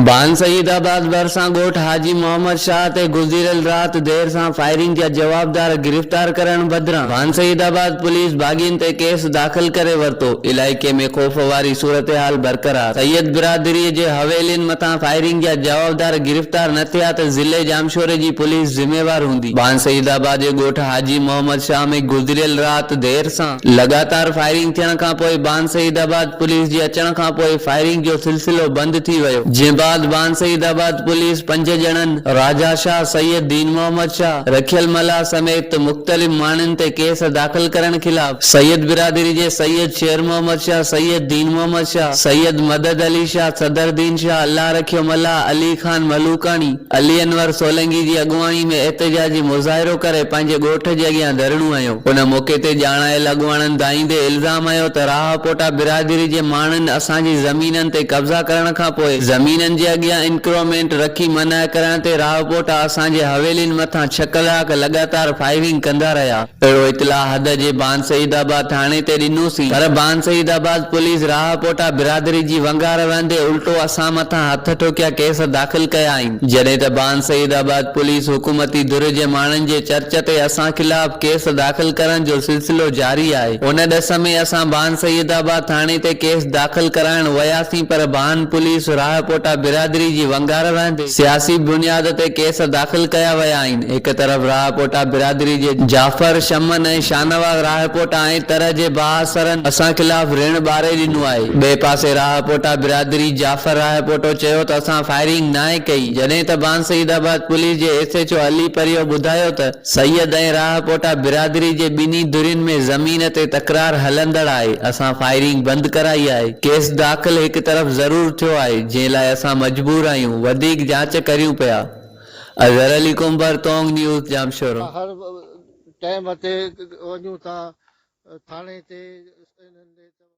ڀان Saeedabad ڀرسان ڳوٺ حاجي محمد شاهه تي گذريل رات دير سان فائرنگ جا جوابدار گرفتار ڪرڻ بدران ڀان سيد آباد پوليس باغين تي ڪيس داخل ڪري ورتو، علائقي ۾ خوف واري صورتحال برقرار، سيد برادري جي حويلين مٿان فائرنگ جا جوابدار گرفتار نه ٿيا ته ضلعي ڄامشوري جي پوليس ذميوار هوندي، ڀان سيد آباد جي ڳوٺ حاجي محمد شاهه ۾ گذريل رات دير سان. لڳاتار فائرنگ ٿيڻ کان پوء بان سعيد آباد پوليس جي اچڻ کان پوء فائرنگ جو سلسلو بند ٿي ويو جنهن بعد بان سعيد آباد پوليس پنج ڄڻن راجا شاهه، سيد دين محمد شاهه، رکيل ملاح سميت مختلف ماڻهن تي ڪيس داخل ڪرڻ خلاف سيد برادري جي سيد شير محمد شاهه، سيد دين محمد شاهه، سيد مدد علي شاهه، صدر دين شاهه، الله رکيو ملاح، علي خان ملوڪاڻي، علي انور سولنگي جي اڳواڻي ۾ احتجاجي مظاهرو ڪري پنهنجي ڳوٺ جي اڳيان ڌرڻو هنيو. ان موقعي تي ڄاڻايل اڳواڻن دانهيندي الزام هنيو ته راهپوٽا برادري جي ماڻهن اسان جي زمينن تي قبضا ڪرڻ کان پوء زمينن جي اڳيان انڪرومينٽ رکي منع ڪرڻ تي راهپوٽا اسان جي حويلين مٿان ڇهه ڪلاڪ لڳاتار فائرنگ ڪندا رهيا. اهڙو اطلاع حد جي بان سعيد آباد ٿاڻي تي ڏنوسين پر بان سعيد آباد پوليس راهپوٽا برادري جي ونگار وهندي الٽو اسان مٿان هٿ ٺوڪيا ڪيس داخل ڪيائين جڏهن ته بان سعيد آباد پوليس حڪومتي ڌر جي ماڻهن جي چرچ تي اسان خلاف ڪيس داخل ڪرڻ جو سلسلو جاري آهي ان ڏس ۾ اسان بان سعيد آباد ٿاڻي تي ڪيس داخل ڪرائڻ وياسين پر بان پوليس راهپوٽا برادري جي ونگار وهندي سياسي بنياد تي ڪيس داخل ڪيا ويا آهن، هڪ طرف راهپوٽا برادري جي جعفر شمن ۽ شاهنواز راهپوٽا ۽ تر جي بااثرن اسان خلاف رڻ ٻاري ڏنو آهي، ٻئي پاسي راهپوٽا برادري جعفر راهپوٽو چيو ته اسان فائرنگ ناهي ڪئي، جڏهن ته بانسعيدآباد پوليس جي S H O Ali Pario ٻڌايو ته. سيد ۽ راهه ڪوٽا برادري جي ٻنهي ڌرين ۾ زمين تي تڪرار هلندڙ آهي، اسان فائرنگ بند ڪرائي آهي، ڪيس داخل هڪ طرف ضرور ٿيو آهي جنهن لاء اسان مجبور آهيون، وڌيڪ جاچ ڪريون پيا. اظهر علي ڪنڀر، تونگ نيوز، ڄامشورو. اسان هر ٽئم تي وڃون ٿا ٿاڻي تي.